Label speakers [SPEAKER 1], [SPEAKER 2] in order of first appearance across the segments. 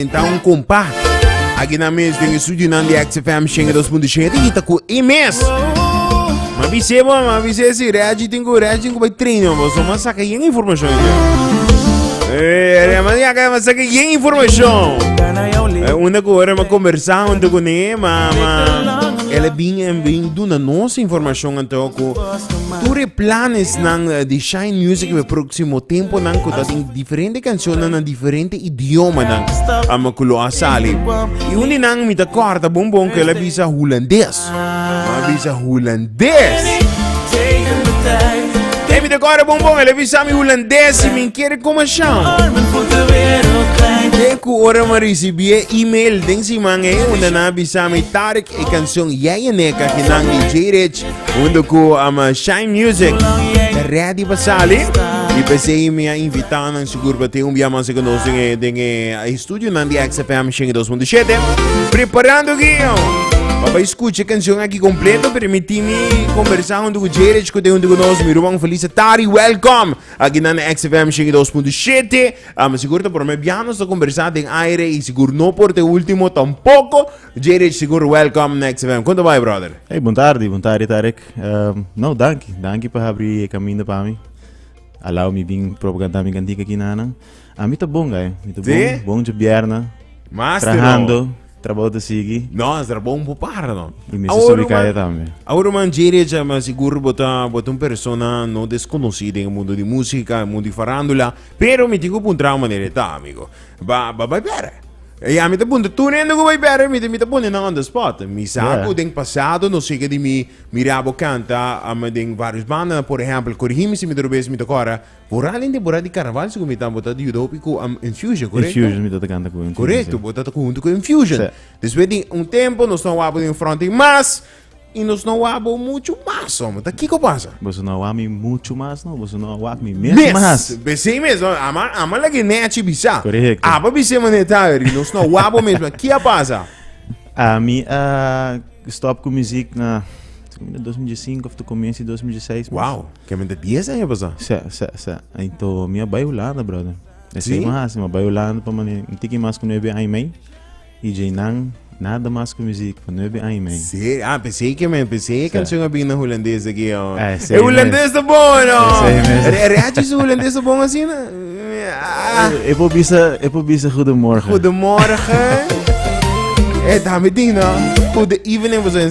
[SPEAKER 1] presenta un compa. Aquí na mes den estudio nan de XFM 102.7 y ta cu e mes. Ma bise bo, ma bise si reagi tengo reagi tengo bai treino bo, so ma saca yen información. Eh, re ma ya ka ma saca yen información. Eh, una ko ora ma conversa un to ne ma ma ele bin en bin duna nos información en to ko ture planes nan eh, de Shine Music we próximo tempo nan ko ta diferente canciones nan diferente idiomanan ama ku lo a sali. I un di nan mi ta kòrda bon bon ku el a bisa hulandes. Mi a bisa hulandes. Ei, mi ta kòrda bon bon, el a bisa mi hulandes i mi kere kumashon. Te ku ora mi a risibí e email den siman ei unda nan a bisa mi, Tarik, e kanshon Yaya Neka, kinan di J-Rich, Junto ku um, Shine Music. Ta ready pa sali. Y pese y mi a invitado nan seguro pa te un bia mas con nos den e, den e a estudio nan di XFM 102.7. Preparando guio. Papá escucha canción aquí completo, permitimi conversar junto con Jerry, escuta junto con nos, mi Ruan Feliz Tari, welcome. Aquí nan XFM 102.7. Um, seguro ta por me bianos ta conversar den aire y seguro no por te último tampoco. Dje Rich sigur welcome Next FM. Konta bai brother? Hey, bom tarde, bom tarde Tarek. Ehm, no, danki, danki pa abri e kaminda pa mi. Alau mi bin propo kanta mi kantika ki nanan. A mi ta bon gai, mi ta Sí? bon, bon je bierna, Master trahando, no. trabou te sigi, No, is er bon po para no. i mi se Ahora, subi kaya man. tambe. Ahora man Dje Rich, eh, man sigur bota bota un persona no desconocida en el mundo de música, en el mundo de farándula, pero mi tin ku puntra manera ta amigo. Ba ba ba bere. E ya mi ta puntra, tur hende ku bai bèder mi, mi ta pone nan on the spot. Mi sa Yeah. ku den pasado nos yega di mi mira bo kanta am, den varios bandanan. Por ehèmpel, korigí mi si mi ta robes, mi ta kòrda, bo ra den temporada di karnaval si ku mi ta, bo ta di yuda hopi ku am, Infusion, korekto? Infusion, mi ta ta kanta ku Infusion, Korekto, si. bo ta ta ku huntu ku Infusion. Sí. Despues di un tempo nos ta wapu den fronte mas. Y nos no wak bo mucho mas, hombre. Ta kiko pasa? Boso no a wak mi mucho mas, no. Boso no a wak mi mes mas. Mes! Besey mes. Ama, ama lag'e Nechi bisa. Correcto. Aba bis'e manera ta aver, y nos no a wak bo mes mas. Ki a pasa? Ami a stop cu muziek na ta cuminda dos mil diesinco of ta comienzo di dos mil dieseis mes. Wow! Caminda dies aña pasa. Sa, sa, sa. Ento mi a bay Hulanda, brother. Esey Sí? mas. Mi a bay Hulanda pa mane un tiki mas cu nuebe aña mei. Y dje nan nada mas cu music pa nuebe aña men. Serio? Ah, pensé i ke men, pensé e canción a bin na hulandes aki. Oh. Ah, esei E hulandes ta bon, no? Esei mes. Re- Reachi su hulandes ta bon asina? Ah, Eh, E por bisa, e por bisa goedemorgen. goedemorgen. Eh, dame ding, no? Good evening, was in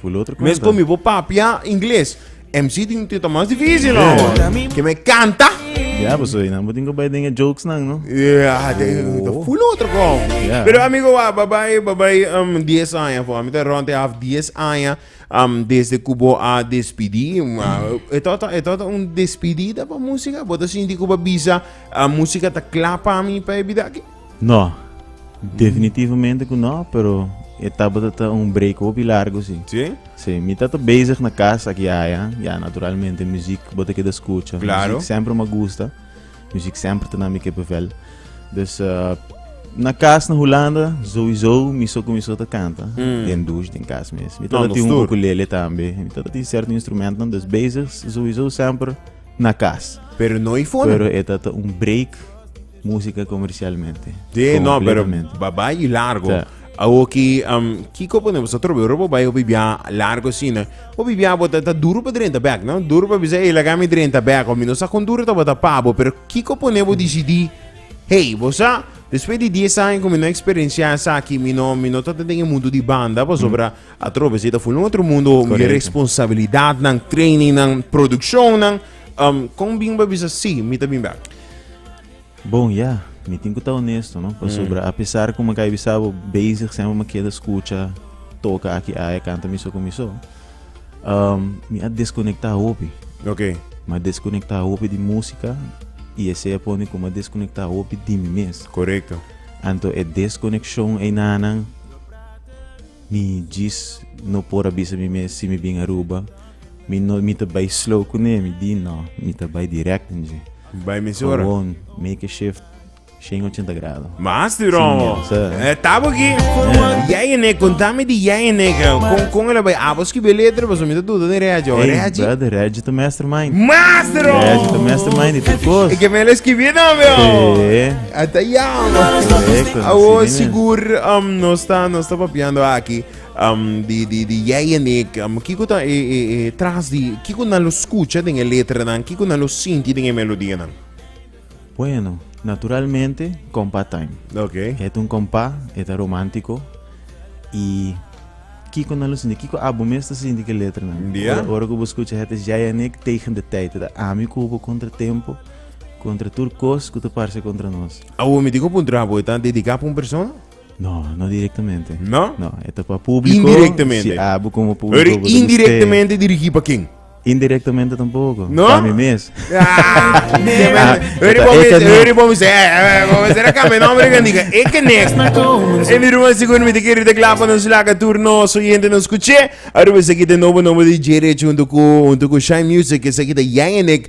[SPEAKER 1] Full otro Mes con mi bo papia inglés. MC tin tita más difícil, no? Yeah. Que me canta. Yeah, pues hoy namo tengo bij dingen jokes nan, no? Yeah, de, de full otro con. Yeah. Pero amigo, wa, bye bye, bye bye, um, 10 años, voor. Met rond half 10 años, um, desde Cubo a despedí. Uh, het had, het had een despedida pa música. Bodo sinti Cuba bisa, uh, música ta clapa a mi pa ebida. No, definitivamente ku no, pero e tabata ta un break hopi largu si. Sí? Sí, mi ta ta bezig na kas aki aya, ya naturalmente muziek bo ta keda skucha. Claro. Muziek semper ma gusta, muziek semper ta na mi kippenvel. Dus eh, na kas na Hulanda, sowieso mi so kuminsó ta kanta, den douche, den kas mes. Mi ta No, ta no tin un stur. ukulele tambe, mi ta ta tin serto instrumentonan, dus bezig sowieso semper na kas. Pero no i fona. Pero e ta ta un break Música comercialmente. Sí, no, pero va bai y largo. Tá. Awo ki um, kiko pone boso trobe robo bai obi bia largo sina. Obi bia bota ta duro pa drenta back, no? Duro pa bisa e laga mi drenta back. Omi no sa kon duro ta bota pabo, pero kiko pone bo decidi. Hey, bosa después di 10 años con mi no experiencia esa aquí, mi no, mi no ta en el mundo di banda, pues obra a trobe, si ta full un otro mundo, mi Correcto. responsabilidad, nan training, nan producción, nan, Um, kon bin ba bisa si, mi ta bin bek? Bon, ya, mi tin ku ta onesto, no? Pasobra, mm. apesar ku makai bisabo bezig semper ma keda skucha, toka aki aya, kanta miso ku miso, um, mi a deskonekta hopi. Ok. Ma deskonekta hopi di música y ese a pone como desconecta hopi di mi mes. Correcto. Anto e desconexión e nanan Mi djis no por a bisa mi mes si mi bin Aruba mi no mi ta bai slow kuné mi di no mi ta bai direct den dje. Bai mes ora. Gewoon make a shift shen ochenta grado. Mas di romo. E tabo ki Yaya Nek kontami di Yaya Nek kon kon el a bai abo skibe letra paso mi ta duda den Reggie o Reggie. Brother Reggie ta mastermind. Mas di romo. Reggie ta mastermind di tur kos. E ke mele skibi tambe o. A ta yawe. Correcto, así Awo mismo. sigur um, nos ta nos ta papiando aki um, di di di jij en ik. Um, kiko ta e e e tras di kiko nan lo skucha den e letranan, kiko nan lo sinti den e melodianan. Bueno, naturalmente kompa time. Oké. E ta un kompa, e ta romántico y kiko nan lo sinti, kiko abo mes ta sinti ke letranan. Ya. Ora ora ku bo skucha het is jij en ik tegen de tijd. E ta ami ku bo kontra tempo. Kontra tur kos ku ta parse kontra nos. Awor mi diko puntra abo, e ta dediká pa un persona? No, no direktamente. No? No, e ta pa públiko. Indirektamente. Si abo komo públiko bo ta gust'é. Pero indirektamente dirigí pa ken? Indirektamente tampoko. No? Pa mi mes. Eri bo mi ser, eri bo mi ser, eh, bo mi ser a kambia nòmber kan diga e ke next. E mi ruma sigur mi ta kere ta kla pa nos laga tur nos oyente nos kuch'é. Aruba esaki ta nobo nòmber di J-Rich huntu ku huntu ku Shine Music, esaki ta Yayanek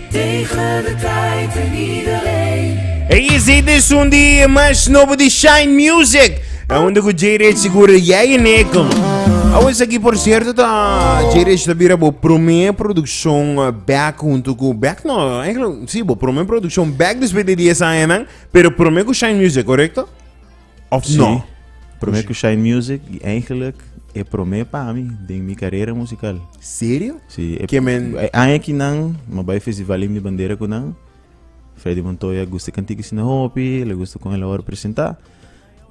[SPEAKER 1] Ey es hit di sun di mas nobo di Shine Music. Aunde ku Jay Rich seguro ya y Nickel. Awes aquí por cierto ta Jay Rich ta bira bo primer producción eh, back junto ku back no, eigenlijk si bo primer producción back después de 10 años nan, pero primer ku Shine Music, correcto? Of no? Sí. Promé ku Shine Music i eigenlijk e promé pa mi den mi karera musikal. Serio? Sí. E, Ke men- e aña ki nan ma bai Festival Himn di Bandera ku nan, Freddy Montoya gusta e kantik asina hopi, el a gusta kon el a wòrdu presentá.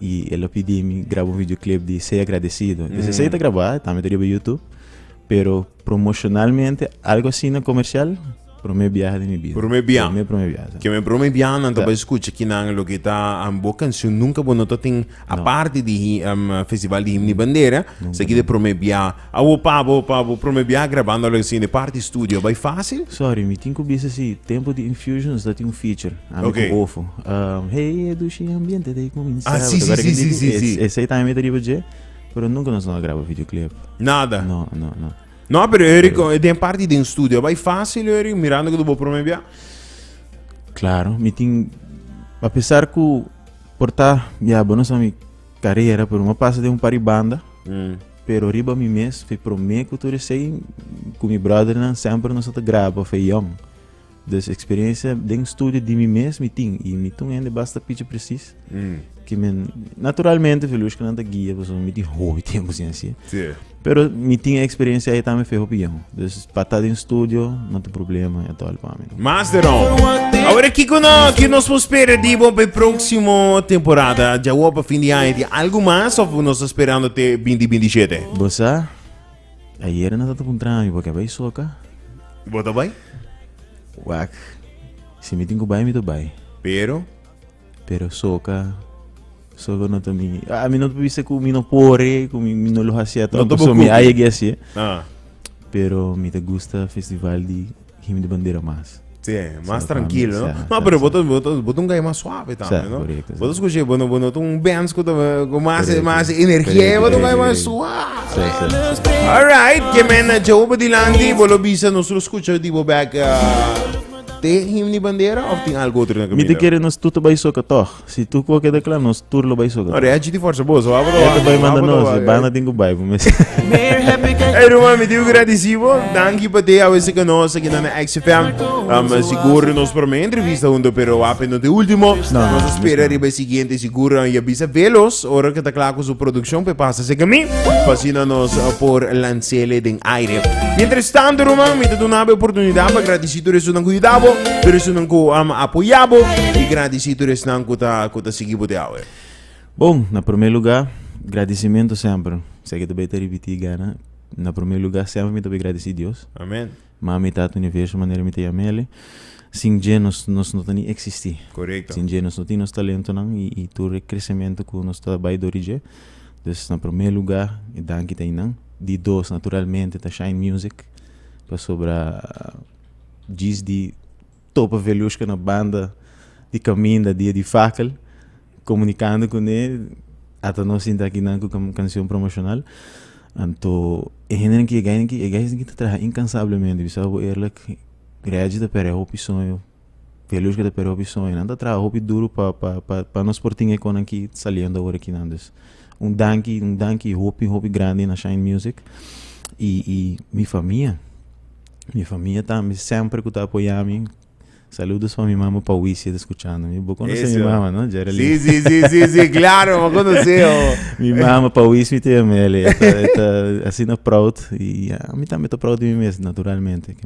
[SPEAKER 1] I el a pidi mi graba un videoclip di Sei Agradecido. Entonces esei ta grabá, e tambe ta riba YouTube, pero Promocionalmente algo asina comercial prome biaha di mi bida. Prome biaha. Prome prome biaha. Sa. Keme prome biaha nan ta bai skucha kinan loke ta um, bo kanshon nunka bo no ta tin aparte di hi um festival di himno i bandera sa kida prome biaha. Awo pa bo pa bo prome biaha grabando algo asina di parti studio a bai facil? Sorry mi tin ku bisa si tempo di Infusion nos ta tin un feature ami Ok. ku Ofo um hey e dushi ambiente ta e cominsaba Ah, si, si, ta guarda si, ken si, di si, si. esei tambe mi ta riba dje. Pero nunca nos no a graba videoclip. Nada. No, no, no. No, pero Eri, pero... Eh, den parte den studio, vai fácil Eri, mirando que tu bo prome bia. Claro, mi tin a pesar que porta ya bonos a mi carreira, pero me passa de um par de banda. Mm. Pero riba mi mes, foi prome que tu sei com mi brother nan sempre nós te grava, foi young. Des experiencia den studio di mi mes mi tin y mi ta un hende basta pichi precis. Mm. Que men, naturalmente Velushka nan ta guia, pues mi tin hopi tiempo sin así. Sí. Pero mi tin experiencia ahí también fue hopi bien. Dus pata den studio, no te problema, ya tal pa mi. Mas de no. Ahora Kiko no, que nos vos espera di bo pe próximo temporada. Ya hopa fin di año di algo más of nos esperando te 2027. Bosa, Ayer na tata puntra mi boke bai soka. Y bo ta bai? Wak. Si mi tin ku bai mi ta bai. Pero? Pero soka soka no ta mi. Ah, mi no ta bisa ku mi no por e, ku mi, mi no lo hasi ato. No ta bo kuki. Mi ayegi hasi. Ah. Pero mi ta gusta festival di him di bandera mas. Sí, mas trankil, no? No, pero bo ta bo ta un gay mas suave tambe, no? Bo ta skush'é bo no bo no ta un Benz ku ta ku mas mas energie, bo ta un gay mas suave. Alright, ke men Joe pa dilanti, bo lo bisa nos lo skucha di bo bek te him di bandera of tin algo otro na kaminda? Mi ta kere nos tur ta bai soka tòg. Si tu ko keda kla nos tur lo bai soga. No, Rechi ti forsa boso, wabo do. Eto bai manda nos, e banda tin ku bai pa mes. Hey Ruma, mi diu gradisivo. Danki pa te awese ka nos aki na XFM. Um, sigur nos prome entrevista hundo, pero wape no te ultimo. Nos a spera riba e siguiente sigur um, ya bisa velos ora ka ta kla ku su produkshon pe pasa se kami. Pasina nos uh, por lansele den aire. Mientras tanto Ruma, mi ta dunabe oportunidat pa gradisi Agradeci tur esunnan cu yuda bo, tur esunnan cu a apoya bo y gradeci tur esnan cu ta cu ta sigui bo te awe. Bon, na prome lugar, gradecimento semper. Seki ta bay ta ripiti gana. Na prome lugar semper mi ta bay gradeci Dios. Amen. Mami, Tata Universo manera mi ta yama el'e. Sin dje nos nos no ta ni existi. Correcto. Sin dje nos no tin nos talentonan y y tur e crecemento cu nos ta bay dor di dje. Dus na prome lugar e danki ta inan. Di dos naturalmente ta Shine Music. pasobra djis di topa Veliushka na banda di kaminda dia di fakel komunikando kuné ata no sinta aki nan ku kansion promoshonal anto e hendenan ki e gainan ki e gais nan ki ta traha inkansablemente bisao bo eerlik Regi ta pere hopi soño. P'e lus ku ta perde hopi soño nan ta traha hopi duru pa pa pa nos por tin e konan ki saliendo awor aki nan dus un danki un danki hopi hopi grandi na shine music i i mi famia mi famia tambe semper ku ta apoya mi saludos pa mi mama pa wisi e ta skuchando mi bo konosé mi mama no Geralyn si si si si klaro bo konosé ho mi mama pa wisi mi ta yama el e ta asina proud i ami tambe ta proud di mi mes naturalmente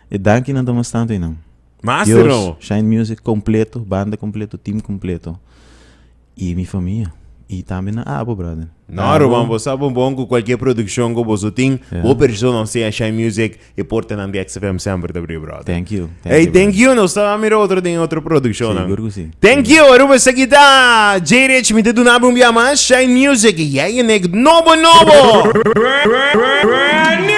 [SPEAKER 1] E dankinan ta mas tantu einan. Mas di Dios, nou. Shine Music kompleto, banda kompleto, team kompleto. I mi famia. I tambe na Abo, brother. No, Abo, Ruben, bo sa bon bon ku kualkier produkshon ku boso tin. Ya. Bo persona osea Shine Music, e portanan di XFM semper ta abrí, brother. Thank you, thank Ey, you, thank brother. you, nos ta mira otro den e otro produkshonnan. Sigur ku si. Thank you, Aruba pues aquí está J Rich, mi te duna un día más, Shine Music, y ya en el nobo nobo. Brand new!